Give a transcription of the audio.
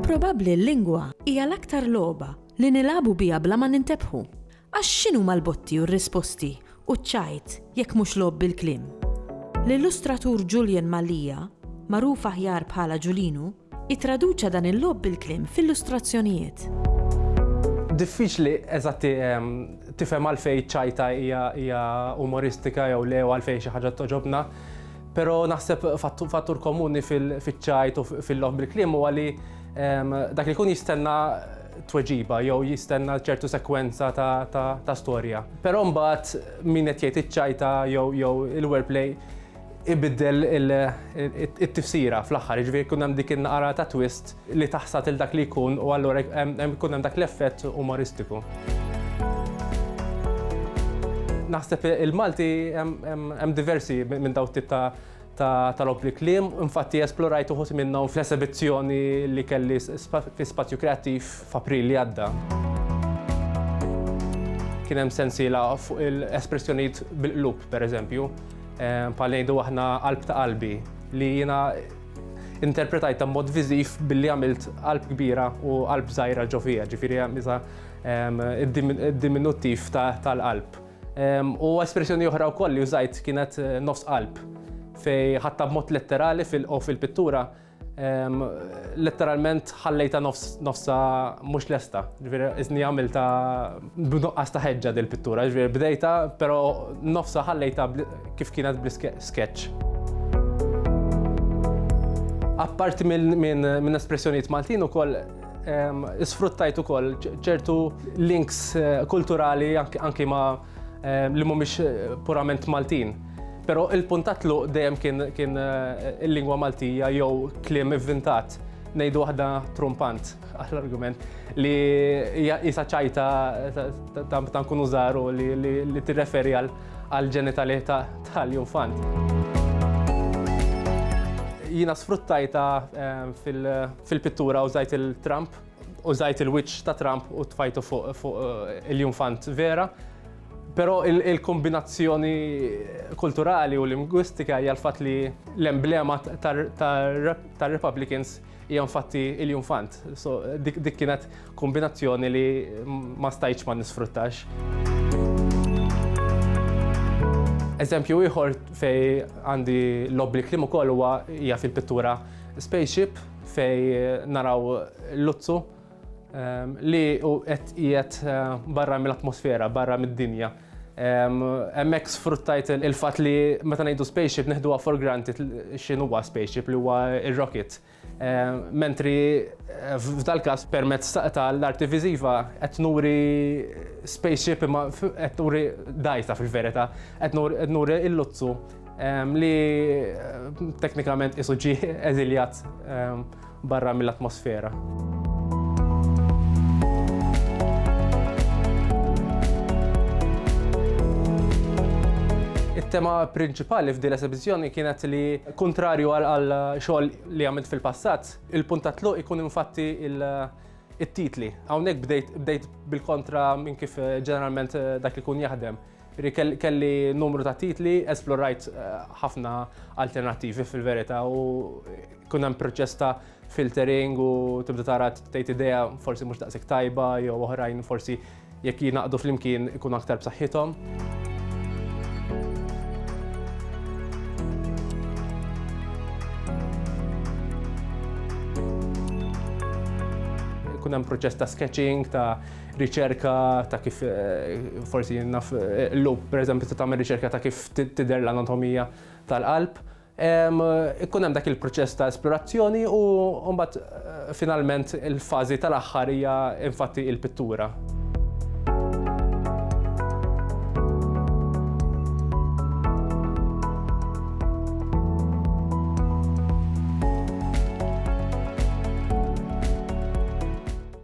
Probabbli l-lingwa hija l-aktar logħba li nilagħbu biha bla ma nintebħu. Għax x'inhuma l-botti u r-risposti u ċ-ċajt jekk mhux logħob bil-kliem? L-illustratur Julian Mallia, magħruf aħjar bħala Ġulinu, Ittraduċa dan il-logħob bil-kliem f'illustrazzjonijiet. Diffiċli eżatt tifhem għalfejn ċajta hija umoristika jew le għalfejn xi ħaġa toġobna. Pero naħseb fattur komuni fil-ċajt u fil-loħ bil-klim u għalli dak li kun jistenna tweġiba jew jistenna ċertu sekwenza ta' storja. Pero mbagħad min qed jgħid iċ-ċajta jew il-wordplay ibiddel it-tifsira fl-aħħar, jiġifieri jkun hemm dik in-naqra ta' twist li taħsad il dak li jkun u allura jkun hemm dak l-effett umoristiku. Naħseb il-Malti hemm diversi minn dawn it-tip ta' logħob bil-kliem, infatti esplorajt uħud minnhom fl-esebizzjoni li kelli fi Spazju Kreattiv f'April li għadda. Kien hemm sensiela fuq il-espressjonijiet bil-qlub, pereżempju. Bħal ngħidu aħna qalb ta' qalbi li jiena interpretajta b'mod viżiv billi għamilt qalb kbira u qalb żgħira ġo fija, ġifieri misa id-diminuttiv tal-qalb. U espressjoni oħra wkoll li użajt kienet nofs qalb fej ħadtha b'mod letterali fil-pittura Letteralment ħallejta nofsa mhux lesta, ġifieri iżni għamilta b'nuqqas ta' ħeġġa dil pittura, ġifieri bdejta però nofsa ħallejta kif kienet bl sketch. Apparti minn espressjonijiet Maltin ukoll isfruttajt ukoll ċertu links kulturali anki ma' ehm, li mhumiex eh, purament Maltin. Però il-punt ta' tluq dejjem kien, kien eh, il-lingwa Maltija jew kliem ivvintat ngħidu waħda trumpant għall-argument li jisa ċajta ta' nkunu żaru li tirreferi għal ġenitali tal-infant. Jina sfruttajta eh, fil-pittura użajt il-Trump Użajt il-wiċċ ta' Trump u tfajtu fuq il-junfant vera, però il-kombinazzjoni kulturali u lingwistika hija l-fatt li l-emblema tar-Republicans hija nfatti il-junfant. So dik kienet kombinazzjoni li ma stajtx ma nisfruttax. Eżempju ieħor fejn għandi l-obblikliem ukoll huwa hija fil-pittura Spaceship Fej naraw Luzzu li u qed qiegħed barra mill-atmosfera, barra mid-dinja. Hemmhekk sfruttajt il-fatt li meta ngħidu spaceship neħduha for granted x'inhu huwa spaceship li huwa r-rocket. Mentri f'dal-każ permezz ta' l-arti viżiva qed nuri spaceship imma qed nuri dgħajsa fil-verità. Qed nuri l-Luzzu Li teknikament qisu ġie eżiljat barra mill-atmosfera. It-tema prinċipali f'din l-esibizzjoni kienet li kuntrarju għal xogħol li għamilt fil-passat, il-punt ta' tluq ikun infatti it-titli. Hawnhekk bdejt bil-kontra minn kif ġeneralment dak ikun jaħdem. Kelli numru ta' titli, esplorajt ħafna alternattivi fil-verità u kien hemm proċess ta' filtering u tibda tara tgħid idea forsi mhux daqshekk tajba jew oħrajn forsi jekk jingħaqdu flimkien ikunu aktar b'saħħithom. Ikun hemm proċess ta' sketching, ta' riċerka ta' kif forsi naf l-lup pereżempju ta' tagħmel riċerka ta' kif tidher l-anatomija tal-qalb. Ikun hemm dak il-proċess ta' esplorazzjoni u mbagħad finalment il-fażi tal-aħħar hija infatti il-pittura.